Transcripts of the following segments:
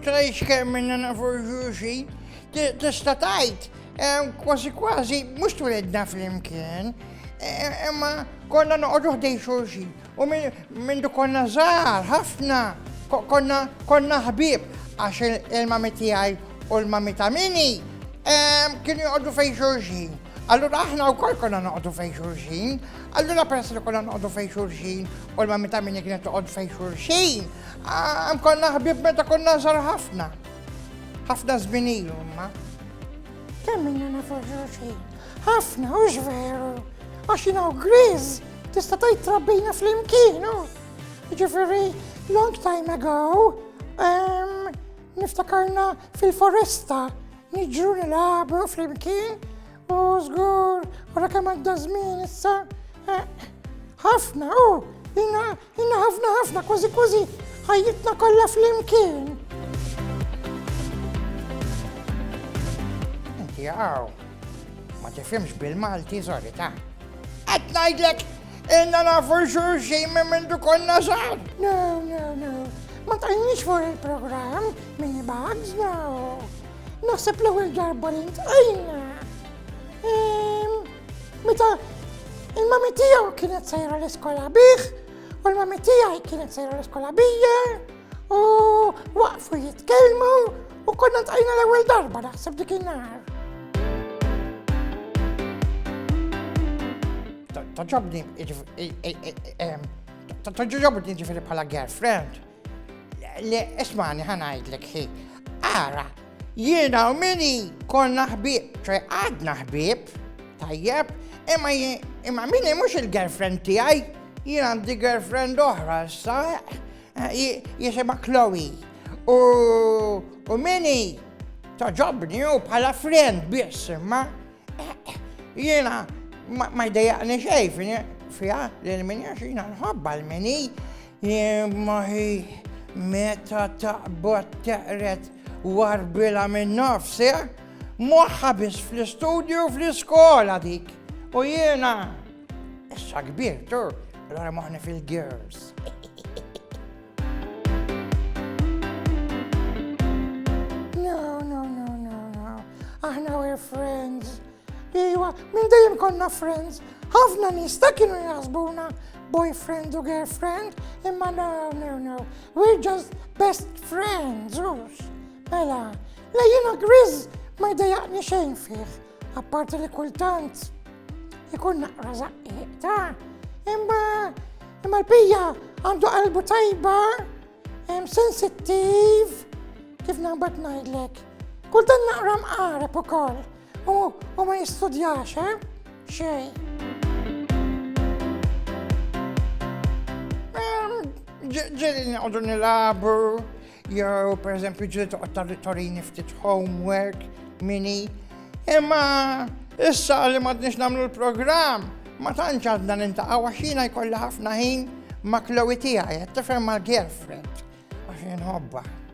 Trajx kemm minna nafu ġuxi, tista' tajt, kważi kważi mhux twilidna flimkien, imma konna noqogħdu ħdej xulxin u minn konna żgħar ħafna konna konna ħbib għax il-mami tiegħi u l-mami ta' mini kienu joqogħdu fejn xulxin. Allura aħna wkoll konna noqogħdu fejn xulxin, Allura peress li konna noqogħdu fejn xulxin u l-mammi ta' minni kienet toqgħod fejn xulxin, għam konna ħbib meta konna żar ħafna. Ħafna żmien ilu, ma. Kemm minna nafu xulxin? Ħafna, u veru. Għax jina u Grizz, tista' tgħid trabbina fl-imkien, u. Ġifieri, long time ago, niftakarna fil-foresta, niġru nilagħbu fl-imkien, U żgur, wara kemm għadda żmien issa, eh, ħafna, u jina, jina ħafna ħafna, kważi kważi ħajjitna kollha flimkien. Inti għaw, ma tifhimx bil-Malti żori ta' qed ngħidlek inna nafu xulxin minn mindu konna żgħar. No, no, no. Ma tajniex fuq il-programm minn bugs, no. Naħseb l-ewwel darba li ntqajna. Ehm, meta il-mami tiegħu kienet sejra l-iskola bih, u l-mami tiegħi kienet sejra l-iskola bija, u waqfu jitkellmu u konna ntqajna l-ewwel darba naħseb dik in-nar. Ta' ġabni, ehm, ta' ġabni ġifiri bħala girlfriend. Le, ismani ħanajdlek xi. Ara, jiena u mini konna ħbib, ċe għadna ħbib, tajjeb, imma imma mini mhux il-girlfriend tiegħi, jien għandi girlfriend oħra issa, eh, jisimha Chloe. U mini toġobni u bħala friend biss, imma eh, jiena ma jdejaqni xejn fiha li l-minja xina nħobba l-mini Jien b'moħħi meta taqbad teqred warbilha min-nofs, eh? Moħħha biss fl-istudju u fl-iskola dik. U jiena issa kbirt, u l-għara moħħni fil-girls. No, no, no, no, no. Aħna we're friends. Iwa, minn dejjem konna friends. Ħafna nies ta' kienu jaħsbuna boyfriend u girlfriend, imma no, no, no. We're just best friends, ux. Mela, la jina Grizz ma jdejaqni xejn fih, apparti li kultant ikun naqra zaqqiq ta' imma imma l-pija għandu qalbu tajba, sensittiv, kif naħbat najdlek. Kultant naqra mqareb ukoll. U, u ma jistudjax, eh? Xej. Ehm, ġeli nqogħdu nilabu, jew per eżempju ġeli toqgħod tal-torini ftit homework, mini. Imma issa li ma tnix nagħmlu l-programm, ma tantx għadna nintaqgħu għax jiena jkollha ħafna ħin ma' Chloe tiegħi, qed tifhem mal-girlfriend għax inħobba.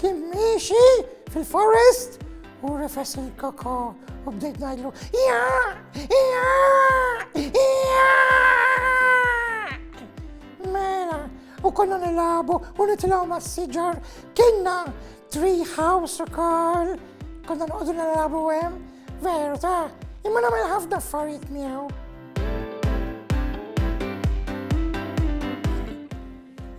kien miexi fil-forest u rifes il-koko u bdejt najdlu ja, ja, ja. Mela, u konna nilabu u nitilaw ma' siġar kienna tree house u kol, konna nqodu nilabu għem, veru ta' imma namel ħafna affarijiet miegħu.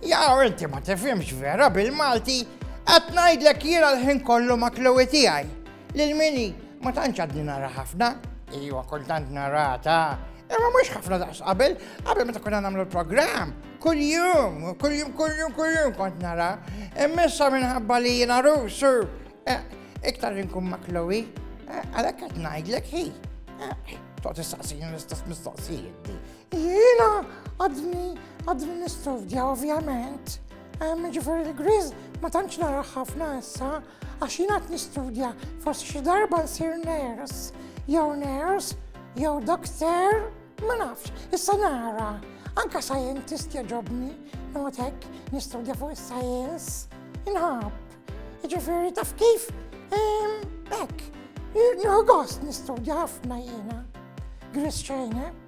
Jaw inti ma tifhimx vera bil-Malti, qed ngħidlek jiena l-ħin kollu ma' Chloe tiegħi. Lil Mini ma tantx għadni nara ħafna, ejwa kultant narata, imma mhux ħafna daqs qabel, qabel meta konna nagħmlu l-programm, kuljum, kuljum, kuljum, kuljum kont nara. Immissa minħabba li jiena rusu, eh, iktar inkun ma' Chloe, eh, għalhekk qed ngħidlek hi. Eh, Toqgħod tistaqsini l-istess mistoqsijiet. Jiena għadni għadni nistudja ovvjament. Ġifieri l-griż ma tantx nara ħafna issa għax jiena qed nistudja forsi xi darba nsir ners jew ners jew dokter ma nafx, issa nara. Anka scientist jaġobni, not hekk nistudja fuq is-science, inħab. Ġifieri taf kif hekk, nħu gost nistudja ħafna jiena. Gris xejn, eh?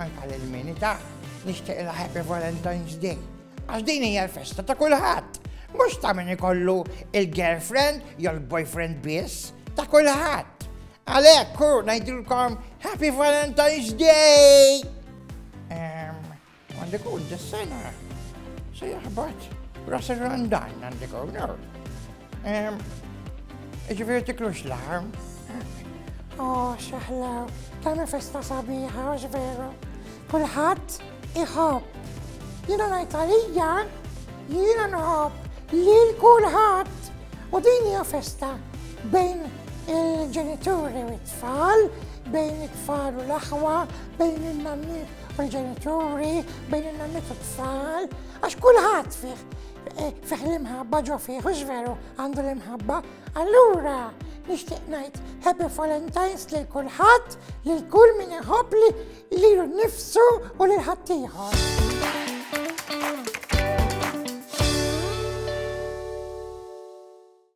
Anka lil mini ta' nixtieq il Happy Valentine's Day. Għax din hija l-festa ta' kulħadd. Mhux ta' min ikollu il-girlfriend jew il-boyfriend biss ta' kulħadd. Għalek, kur, najdilkom Happy Valentine's Day! Għandi ikun dis-sena se jaħbat ras ir-randan għandi ikun. Ġifieri tiklux l-arm. Oh, xaħla, tagħmel festa sabiħa, għax veru. Kulħadd iħobb. Jiena ngħid għalija, jiena nħobb lil kulħadd. U din hija festa bejn il-ġenituri u t-tfal, bejn it-tfal u l-aħwa, bejn il-nanniet u l-ġenituri, bejn il-nanniet u t-tfal, għax kulħadd fih eh, fih l-imħabba ġo fih, u veru għandu l-imħabba. Allura, nixtieq ngħid Happy Valentine's lil kulħadd, lil kull min iħobb li lilu nnifsu u lil ħaddieħor.